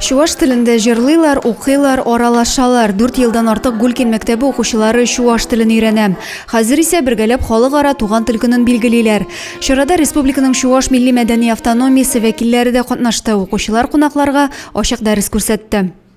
Чуваш телендә җырлыйлар, укыйлар, аралашалар. Дүрт елдан артык Гулькин мәктәбе укучылары чуваш телен өйрәнә. Хәзер исә бергәләп халыкара туган тел көнен билгелиләр. Чарада республиканың Чуваш милли-мәдәни автономиясе вәкилләре дә катнашты. Укучылар кунакларга ачык дәрес күрсәтте.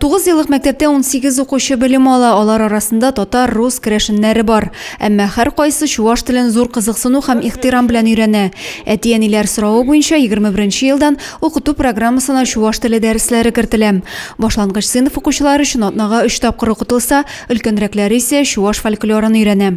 Тугыз еллык мәктәптә унсигез укучы белем ала, алар арасында татар, рус, керәшеннәре бар. Әмма һәркайсы чуваш телен зур кызыксыну һәм ихтирам белән өйрәнә. Әти-әниләр соравы буенча, егерме беренче елдан укыту программасына чуваш теле дәресләре кертелә. Башлангыч сыйныф укучылары өчен атнага өч тапкыр укытылса, өлкәнрәкләре исә чуваш фольклорын өйрәнә.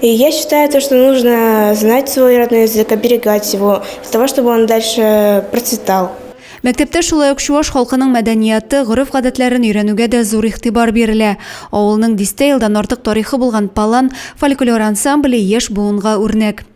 И я считаю то, что нужно знать свой родной язык, оберегать его, для того, чтобы он дальше процветал. Мәктәптә шулай ук чуваш халкының мәдәнияты, гореф-гадәтләрен өйрәнүгә дә зур игътибар бирелә. Авылның дистә елдан артык тарихы булган Палан фольклор ансамбле яшь буынга үрнәк.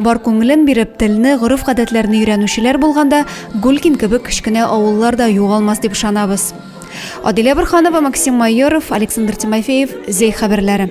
Бар күңелен биреп, телне, гореф-гадәтләрне өйрәнүчеләр булганда, Гулькин кебек кечкенә авыллар да югалмас дип ышанабыз. Адилә Борһанова, Максим Майоров, Александр Тимофеев, Зәй хәбәрләре.